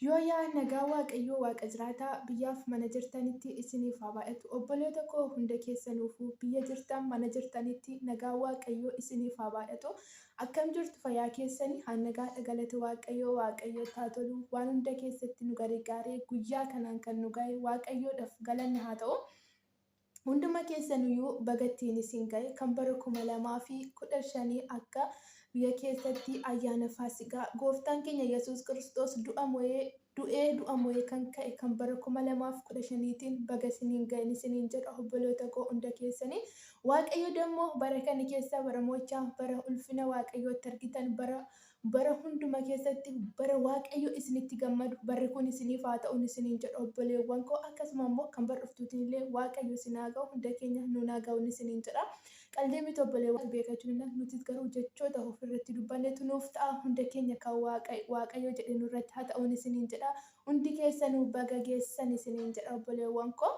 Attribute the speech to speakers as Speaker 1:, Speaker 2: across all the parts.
Speaker 1: Yooyaa nagaa waaqayyoo waaqa jiraataa biyyaaf mana jirtanitti isiniif haa baay'atu obboloota koo hunda keessanuufuu biyya jirtan mana jirtanitti nagaa waaqayyoo isiniif haa baay'atu akkam jirtu fayyaa keessani haa nagaadha galata waaqayyoo waaqayyootti haa tolu waan hunda keessatti nu garigaaree guyyaa kanaan kan nu gahe waaqayyoodhaf galanni haa ta'u Hunduma keessanuyyu baga ittiin isin gahe kan bara 2015 akka biyya keessatti ayyaana faasigaa gooftaan keenya yesuus kiristoos du'a mo'ee du'ee du'a mo'ee kan ka'e kan bara 2015tiin baga isiniin gahe isiniin jedha obboloota koo hunda keessaniin waaqayyo dammoo bara kana keessa bara mo'ichaa bara ulfina waaqayyootti argitan bara Bara hunduma keessatti bara Waaqayyo isin itti gammadu barri kun isiniif haa ta'un isiniin jedha obboleewwan koo akkasuma immoo kan bar dhuftuutiin illee Waaqayyo isin haa ga'u hunda keenya nuun haa ga'un isiniin jedha qaldii miti obboleewwan beeka jirina nutis garuu jechoota of irratti dubbannetu nuuf ta'a hunda keenya kan Waaqayyo jedhe nu irratti haa ta'un isiniin jedha hundi keessanuu baga geessan isiniin jedha obboleewwan koo.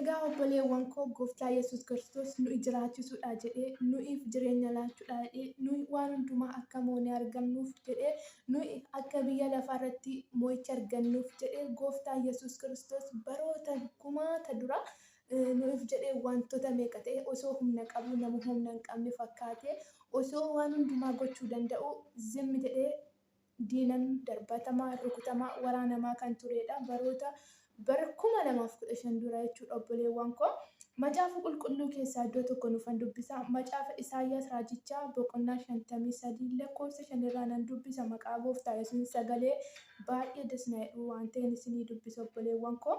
Speaker 1: Egaa obboleewwan koo gooftaa Yesuus Kiristoos nuyi jiraachisuudha jedhee nuyiif jireenya laachuudha jedhee nuyi waan hundumaa akka moonee argannuuf jedhee nuyi akka biyya lafaa irratti moo'icha argannuuf jedhee gooftaa Yesuus Kiristoos baroota kumaata dura nuyiif jedhee wantoota meeqa ta'e osoo humna qabu nama humna hin qabne fakkaatee osoo waan hundumaa gochuu danda'u zimmi jedhee diinan darbatamaa, rukutamaa, waraanamaa kan tureedha baroota bara 2015 dura jechuudha obboleewwan koo. Macaafa qulqulluu keessaa iddoo tokko nufan dubbisa. Macaafa Isaayyaas raajichaa boqonnaa 53 lakkoofsa 5 irraa nan dubbisa maqaa gooftaa yesuun sagalee baay'ee das na jedhu waan ta'een isinii dubbisa obboleewwan koo.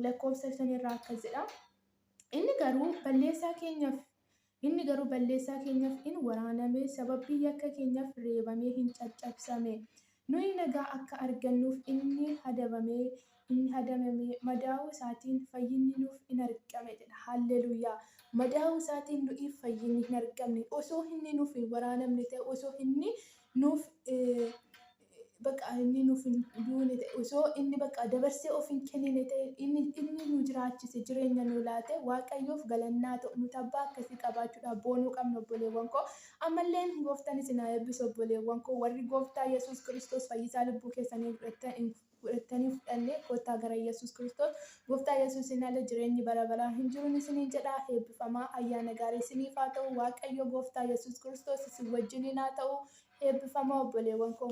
Speaker 1: Lakkoofsa 5 irraa akkas jedha. Inni garuu balleessaa keenyaaf Inni garuu balleessaa keenyaaf in waraaname, sababii yakka keenyaaf reebamee in caccabsame. Nuyi nagaa akka argannuuf inni hadabame, inni hadamame, madaa'uu isaatiin fayyinni nuuf in argame jedha. Haalleluuyaa! Madaa'uu isaatiin nu'iif fayyinni hin argamne. Osoo inni nuuf hin waraanamne ta'e, osoo inni nuuf bakka inni nuuf hin duune ta'e osoo inni bakka dabarsee of hin kennine ta'e inni inni nu jiraachise jireenya nu laate waaqayyoof galannaa ta'u nuti abbaa akkasii qabaachuudhaaf boonuu qabna obboleewwan koo ammalleen gooftaan isin haa eebbisu obboleewwan koo warri gooftaa yesuus kiristoos fayyisaa lubbuu keessanii godhattanii fudhanne kottaa gara yesuus kiristoos Gooftaa Yesuusiin ala jireenyi bara baraa hin jiruun isiniin jedha. Eebbifamaa! Ayyaana gaarii isiniif haa ta'u. Waaqayyo Gooftaa Yesuus Kiristoos isin wajjiniin haa ta'u. Eebbifamaa obboleewwan koo!